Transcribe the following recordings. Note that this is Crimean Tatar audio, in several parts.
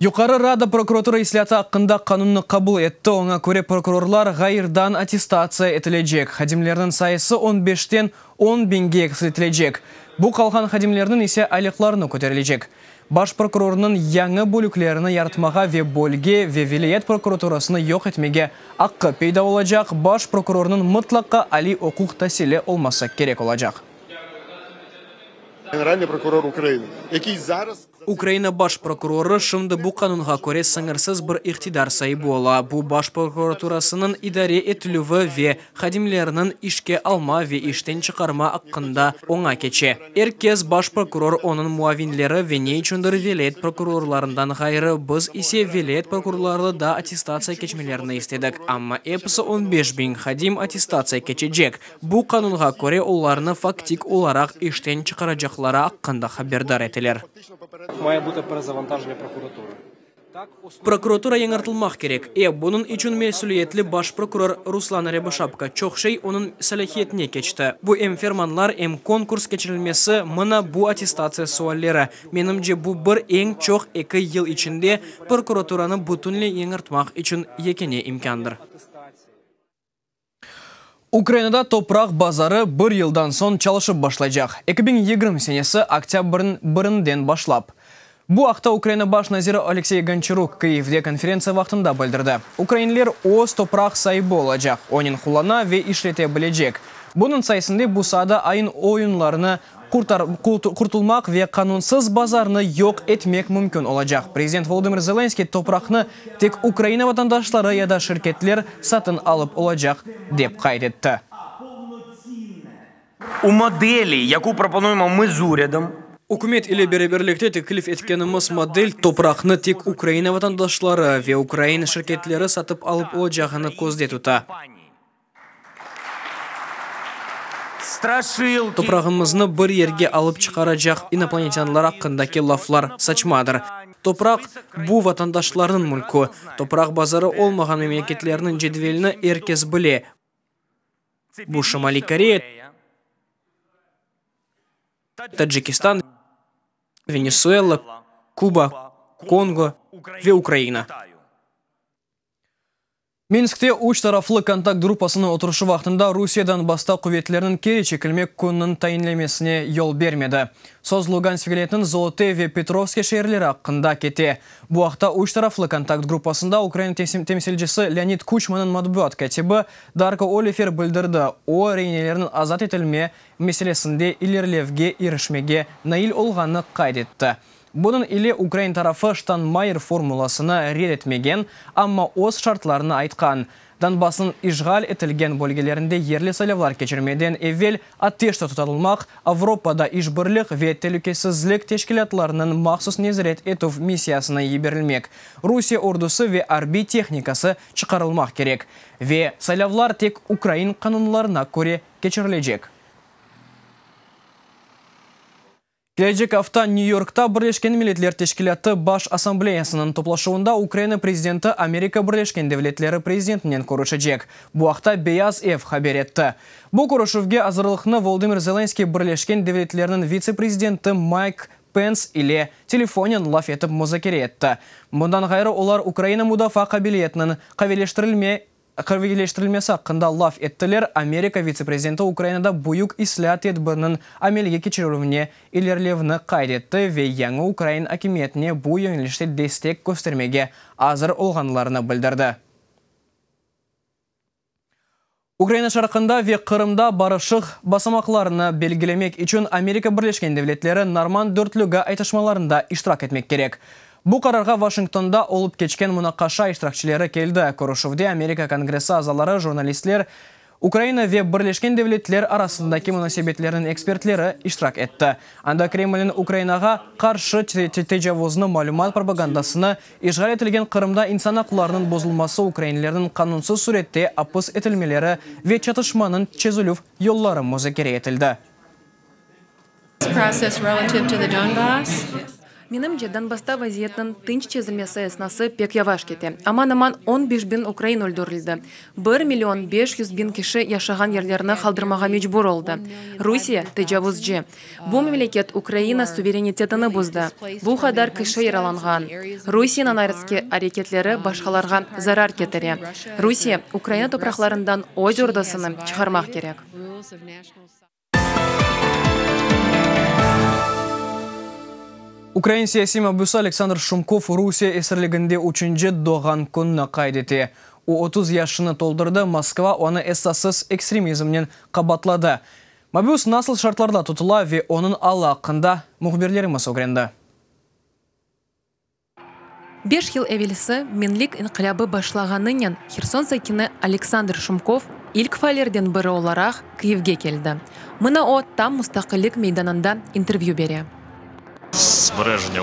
Yuqarı Rada prokuratura islâtı aqqında qanunnı qabul etti, oña köre prokurorlar ğayırdan attestatsiya etilecek, hadimlerniñ sayısı on beşten on biñge eksiltilecek, bu qalğan hadimlerniñ ise aylaqlarını köterilecek. Baş prokurornıñ yañı bölüklerini yaratmağa ve bölge ve vilâyet prokuraturasını yoq etmege aqqı peyda olacaq, baş prokurornıñ mıtlaqqa aliy oquq tasili olması kerek olacaq. Generalnıy prokuror Ukraina. Ukraina baş prokurorı şimdi bu qanunğa köre sıñırsız bir iqtidar saibi ola, bu baş prokuraturasınıñ idare etilüvi ve hadimleriniñ işke alma ve işten çıqarma aqqında oña keçe. Er kez baş prokuror, onıñ muavinleri ve ne içündir vilâyet prokurorlarından ğayrı, biz ise vilâyet prokurorları da attestatsiya keçmelerini istedik, amma episi on beş biñ hadim attestatsiya keçecek, Bu qanunğa köre olarnı faktik olaraq işten çıqaracaqları aqqında haberdar eteler. Prokuratura yañırtılmaq kerek. E, bunıñ içün mesüliyetli baş prokuror Ruslan Râbışapko, çoq şey onıñ salâhiyetine keçti. Bu em fermanlar, em konkurs keçirilmesi, mına bu attestatsiya sualleri. Menimce, bu bir, eñ çoq eki yıl içinde prokuraturanı bütünley yañırtmaq içün yekâne imkândır. Ukrainada topraq bazarı bir yıldan soñ çalışıp başlaycaq, eki biñ yigirmi senesi oktâbrniñ birinden başlap. Bu aqta Ukraina baş naziri Oleksiy Gonçaruk Kyivde konferentsiya vaqtında bildirdi. Ukrainler öz topraq saibi olacaq, onıñ qullana ve işlete bilecek. Bunıñ sayesinde bu saada ayıñ oyunlarını qurtulmaq ve qanunsız bazarnı yoq etmek mümkün olacaq. Prezident Volodımır Zelenskıy topraqnı tek Ukraina vatandaşları ya da şirketler satın alıp olacaq, dep qayd etti. U modeli, yaku proponuemo mı z uredom? Ükümet ile beraberlikte teklif etkenimiz model topraqnı tek Ukraina vatandaşları ve ukrain şirketleri satıp alıp olacağını közde tuta. Toprağımıznı bir yerge alıp çıqaracaq inoplanetânlar aqqındaki laflar saçmadır. Topraq, bu vatandaşlarnıñ mülkü. Topraq bazarı olmağan memleketlerniñ cedvelini er kes bile. Bu Şimaliy Koreya, Tacikistan, Venesuela, Kuba, Kongo ve Ukraina. Minskte üç taraflı kontakt gruppasınıñ oturışı vaqtında Rusiye Donbassta quvetleriniñ keri çekilmek kününiñ tayinlemesine yol bermedi. Söz Lugansk vilâyetiniñ Zolote ve Petrovske şeerleri aqqında kete. Bu aqta üç taraflı kontakt gruppasında Ukraina temsilcisi Leonid Kuçmanıñ matbuat kâtibi Darko Olifer bildirdi, o, reinelerniñ azat etilme meselesinde ilerilevge irişmege nail olğanını qayd etti. Bunıñ ile ukrain tarafı Ştaynmayer formulasını red etmegen, amma öz şartlarını aytqan, Donbassnıñ işğal etilgen bölgelerinde yerli saylavlar keçirmeden evel ateşte tutalılmaq, Avropada işbirlik ve telükesizlik teşkilâtlarınıñ mahsus nezaret etüv missiyasına yiberilmek, Rusiye ordusı ve arbiy tehnikası çıqarılmaq kerek ve saylavlar tek ukrain qanunlarına köre keçirilecek. Kelecek afta New Yorkta Birleşken Milletler Teşkilâtı Baş Assambleyasınıñ toplaşuvında Ukraina prezidenti Amerika Birleşken Devletleri prezidentinen körüşecek. Bu aqta Beyaz ev haber etti. Bu körüşüvge azırlıqnı Volodımır Zelenskıy Birleşken Devletlerniñ vitse-prezidenti Mayk Pens ile telefonen laf etip muzakere etti. Bundan ğayrı olar Ukraina mudafaa qabiliyetiniñ qaviyleştirilme Qırvilileştirilmesi aqqında laf ettiler, Amerika vitse-prezidenti Ukrainada büyük islâat tedbiriniñ amelge keçirilüvine ilerilevni qayd etti ve yañı ukrain akimiyetine bu yoñlişte destek köstermege azır olğanlarını bildirdi. Ukraina şarqında ve Qırımda barışıq basamaqlarını belgilemek içün Amerika Birleşken Devletleri Norman Dörtlügi aytışmalarında iştirak etmek kerek. Bu qararğa Vaşingtonda olıp keçken munaqaşa iştirakçileri keldi. Körüşüvde Amerika Kongressi azaları, jurnalistler, Ukraina ve Birleşken Devletler arasındaki munasebetlerniñ ekspertleri iştirak etti. Anda Kremlniñ Ukrainağa qarşı tecavuznı, malümat propagandasını, işğal etilgen Qırımda insan aqlarınıñ bozulması, ukrainlerniñ qanunsız sürette apıs etilmeleri ve çatışmanıñ çezülüv yolları muzakere etildi. Menimce, Donbassta vaziyetniñ tınç çezilmesi esnası pek yavaş kete. Aman-aman on beş biñ ukrain öldürildi. Bir million beş yüz biñ kişi yaşağan yerlerini qaldırmağa mecbur oldı. Rusiye, tecavuzcı. Bu memleket Ukraina suverenitetini buzdı. Bu qadar kişi yaralanğan. Rusiyeniñ ayrıtki areketleri başqalarğa zarar ketire. Rusiye, Ukraina topraqlarından öz ordusını çıqarmaq kerek. Ukrain siyasiy mabüsi Aleksandr Şumkov Rusiye esirliginde üçünci doğğan kününi qayd ete. O, otuz yaşını toldurdı, Moskva onı esassız ekstremizmnen qabatladı. Mabüs nasıl şartlarda tutula ve onıñ alı aqqında mühbirlerimiz ögrendi. Beş yıl evelsi Menlik inqilâbı başlağanınen Herson sakini Aleksandr Şumkov ilk faallerden biri olaraq Kyivge keldi. Mına o, tam Mustaqillik meydanında intervyü bere. Sbrejnâ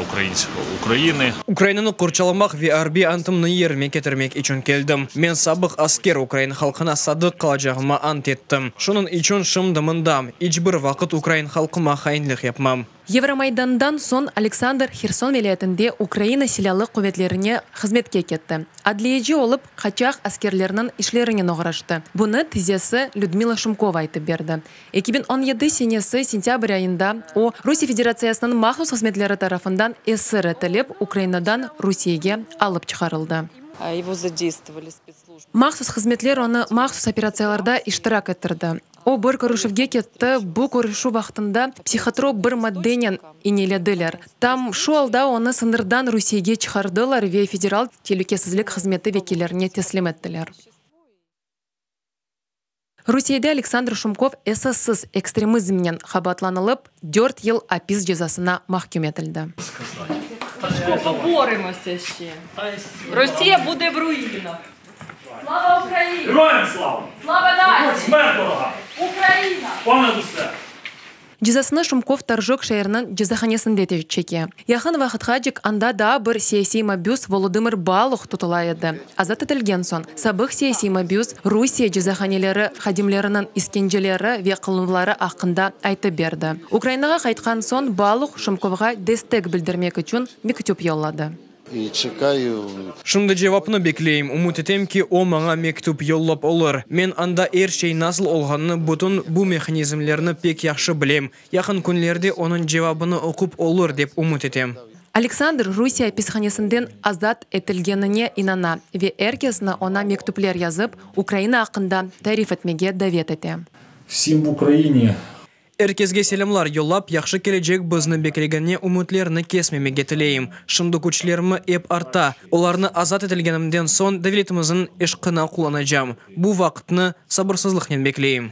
Ukrayini. Ukrayinanı qorçalamaq ve arbiy antımnı yerine ketirmek içün keldim. Men sabıq asker, ukrayin halqına sadıq qalacağıma ant ettim. Şunıñ içün şimdi mındam. İç bir vaqıt ukrayin halqıma hainlik yapmam. Yevromaydandan soñ Aleksandr Herson vilâyetinde Ukraina Silâlı quvetlerine hızmetke ketti. Adliyeci olıp, qaçaq askerlerniñ işlerinen oğraştı. Bunı tizesi Lüdmila Şumkova aytıp berdi. Eki biñ on yedi senesi sentâbr ayında o, Rusiye Federatsiyasınıñ mahsus hızmetleri tarafından esir etilip, Ukrainadan Rusiyege alıp çıqarıldı. Mahsus hızmetler onı mahsus operatsiyalarda iştirak ettirdi. O bir körüşüvge ketti, bu körüşüv vaqtında psihotrop bir maddenen iñelediler. Tam şu alda onı sıñırdan Rusiyege çıqardılar ve Federal telükesizlik hızmeti vekillerine teslim ettiler. Rusiyede Aleksandr Şumkov esassız ekstremizmnen qabaatlanılıp, dört yıl apis cezasına mahküm etildi. Cezasını Şumkov Toržok şeeriniñ cezahanesinde çeke. Yaqın vaqıtqacık anda daa bir siyasiy mabüs Volodımır Baluh tutula edi. Azat etilgen soñ, sabıq siyasiy mabüs Rusiye cezahaneleri hadimleriniñ iskenceleri ve qıluvları aqqında aytıp berdi. Ukrainağa qaytqan soñ Baluh Şumkovğa destek bildirmek içün mektüp yolladı. Şimdi cevapnı bekleyim. Ümüt etem ki, o maña mektüp yollap olur. Men anda er şey nasıl olğanını, bütün bu mehanizmlerni pek yahşı bilem. Yaqın künlerde onıñ cevabını oqup olur dep ümüt etem. Aleksandr Rusiye apishanesinden azat etilgenine inana ve er kesni oña mektüpler yazıp, Ukraina aqqında tarif etmege davet ete. Vsim v Ukraine! Er kesge selâmlar yollap, yahşı kelecek bizni beklegenine ümütlerni kesmemege tileyim. Şimdi küçlerimi ep artta. Olarnı azat etilgenimden soñ devletimizin eşqına qullanacam. Bu vaqıtnı sabırsızlıqnen bekleyim.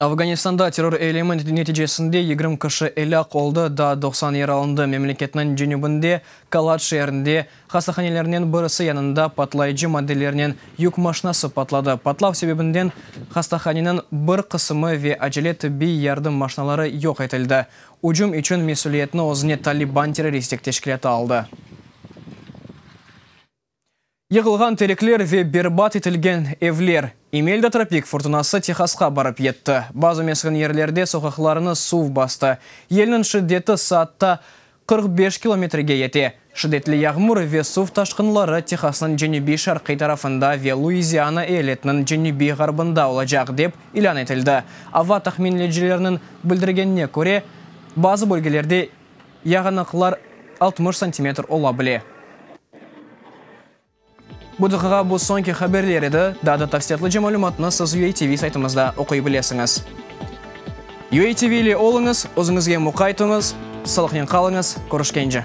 Afganistanda terror eylemi neticesinde yigirmi kişi elâk oldı, daa doqsan yaralandı. Memleketniñ cenübinde, Kalat şeerinde, hastahanelernen birisi yanında patlayıcı maddelernen yük maşinası patladı. Patlav sebebinden hastahaneniñ bir qısımı ve acele tibbiy yardım maşinaları yoq etildi. Ücüm içün mesüliyetni özüne Taliban terroristik teşkilâtı aldı. Yıqılğan terekler ve berbat etilgen evler. İmelda tropik furtunası Tehasqa barıp yetti. Bazı mesken yerlerde soqaqlarnı suv bastı. Yelniñ şiddeti saatta qırq beş kilometrege yete. Şiddetli yağmur ve suv taşqınları Tehasnıñ cenübiy-şarqiy tarafında ve Luiziana eyaletiniñ cenübiy-ğarbında olacaq, dep ilân etildi. Ava tahminleyicilerniñ bildirgenine köre, bazı bölgelerde, Yağınıqlar altmış santimetr ola bile. Bu daqıqa bu soñki haberler edi, daa da tafsilâtlıca malümatnı siz UATV saytımızda oquy bilesiñiz. UATV ile oluñız, özüñizge muqay tuñız, salıqnen qalıñız, körüşkence.